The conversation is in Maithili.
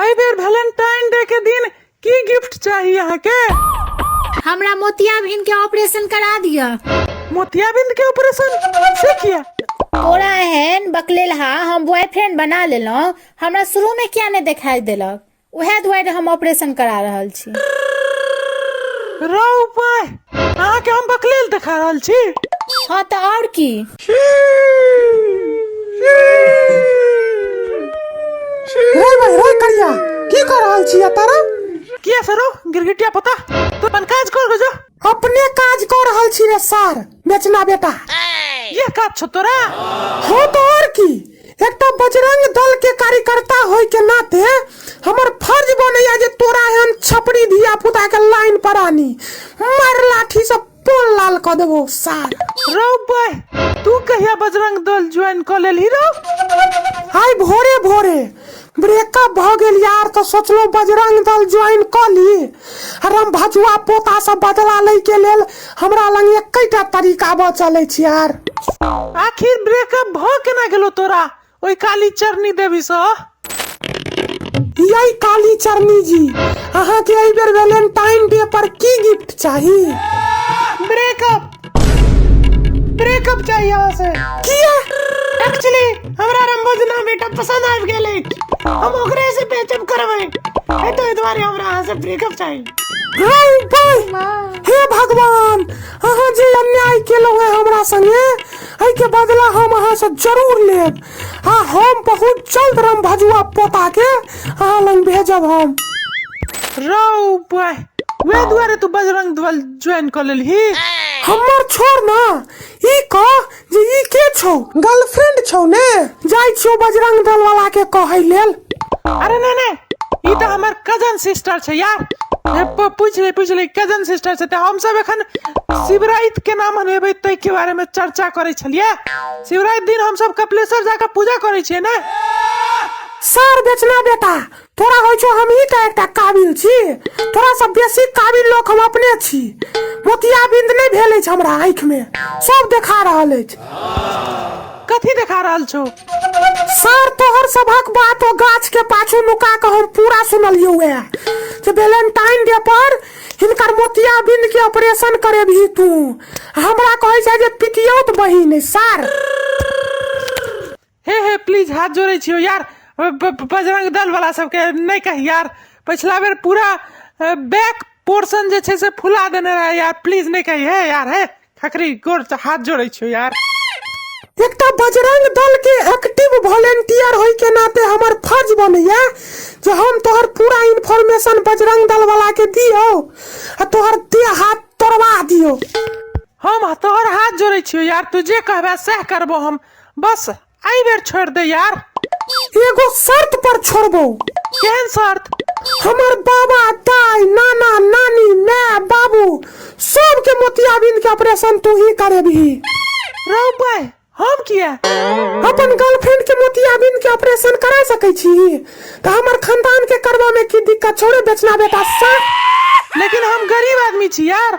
एहि बेर वैलेंटाइन डे के दिन की गिफ्ट चाही अहाँके हमरा मोतिया भिन के ऑपरेशन करा दिया मोतियाबिंद के ऑपरेशन से किया तोरा एहन बकलेल हा हम बॉयफ्रेंड बना लेलहुँ हमरा शुरू में किया नहीं दिखाई देलक उहे दुआरे हम ऑपरेशन करा रहल छी रौ पाय अहाँके हम बकलेल देखा रहल छी हाँ तो और की रे भाई रे करिया की कर रहल छी तारा কি আছে রো गिरगिटिया पता तो अपन काज कर गजो अपने काज कर रहल छी रे सर बेचना बेटा ये काज छो तोरा हो तो और की एकटा बजरंग दल के कार्यकर्ता होय के नाते हमर फर्ज बनैया जे तोरा एहन छपरी धिया पुता के लाइन पर आनी मार लाठी से तोर लाल कऽ देबो सार रौ बह तू कहिया बजरंग दल ज्वाइन कऽ लेलही रौ आइ भोरे भोरे ब्रेकअप भऽ गेल यार तऽ सोचलहुँ बजरंग दल ज्वाइन कऽ ली आ हम भजुआ पोतासँ बदला लै के लेल हमरा लग एकैटा तरीका बचल अछि यार आखिर ब्रेकअप भऽ केना गेलो तोरा ओहि काली चरनी देवीसँ यही काली चरनी जी अहाँके एहि बेर वैलेंटाइन डे पर की गिफ्ट चाही ब्रेकअप ब्रेकअप चाही अहाँ से किया एक्चुअली हमरा रंबोजना बेटा पसंद आबि गेल अछि हम ओकरे से पेचअप करबै ए तो एहि दुआरे हमरा अहाँ से ब्रेकअप चाही हाय भाई हे भगवान अहाँ जे अन्याय केलहुँ है हमरा संगे एहि के बदला हम अहाँ से जरूर लेब आ हम बहुत जल्द राम भजुआ पोता के अहाँ लग भेजब हम रौ बॉय वे दुआरे तू बजरंग दल ज्वाइन कर लेलही हमर छोड़ ना ई कह जे ई के छौ गर्लफ्रेंड छौ ने जाइ छौ बजरंग दल वाला के कहै लेल अरे नहीं नहीं ई तऽ हमर कजन सिस्टर छै यार हे, प- पूछ ले पूछ ले कजन सिस्टर छै तऽ हमसब एखन शिवराइत केना मनेबै ताहिके बारेमे चर्चा करै छलियै शिवराइत दिन हमसब कपिलेश्वर जाके पूजा करै छियै ने सर बेचना बेटा तोरा होइ छौ हमही तऽ एकटा काबिल छी तोरा सब बेसी काबिल लोक हम अपने छी मोतिया बिंद नहि भेल अछि हमरा आँखिमे सब देखा रहल अछि कथी देखा रहल छौ सर तोहर सभक बात ओ गाछ के पाछू लुका के हम पूरा सुनलियो है जे वैलेंटाइन डे पर हिनकर मोतिया बिंद के ऑपरेशन करे भी तू हमरा कहे छै जे पितियोत बहिन है, सर हे हे प्लीज हाथ जोड़े छियो यार ब- ब- बजरंग दल वाला सबके नहीं कही यार पिछला बेर पूरा बैक पोर्शन जे छै से फुला देने रहे यार प्लीज नहीं कही हे यार हे ठकरी गोर से हाथ जोड़े छो यार एकटा बजरंग दल के एक्टिव वॉलेंटियर होय के नाते हमर फर्ज बनैया जे हम तोहर पूरा इन्फॉर्मेशन बजरंग दल वाला के दियो आ तोहर देह हाथ तोड़वा दियो हम तोहर हाथ जोड़े छियो यार तू जे कहबे सह करबो हम बस एहि बेर छोड़ दे यार एगो शर्त पर छोड़बो केहन शर्त हमर बाबा दाई नाना नानी माय बाबू सबके मोतियाबिंद के ऑपरेशन तू ही करेबही रौ भाई हम किया अपन गर्लफ्रेंड के मोतियाबिंद के ऑपरेशन करा सकै छी तऽ हमर खानदान के करबा में की दिक्कत छोड़े बेचना बेटा सा लेकिन हम गरीब आदमी छी यार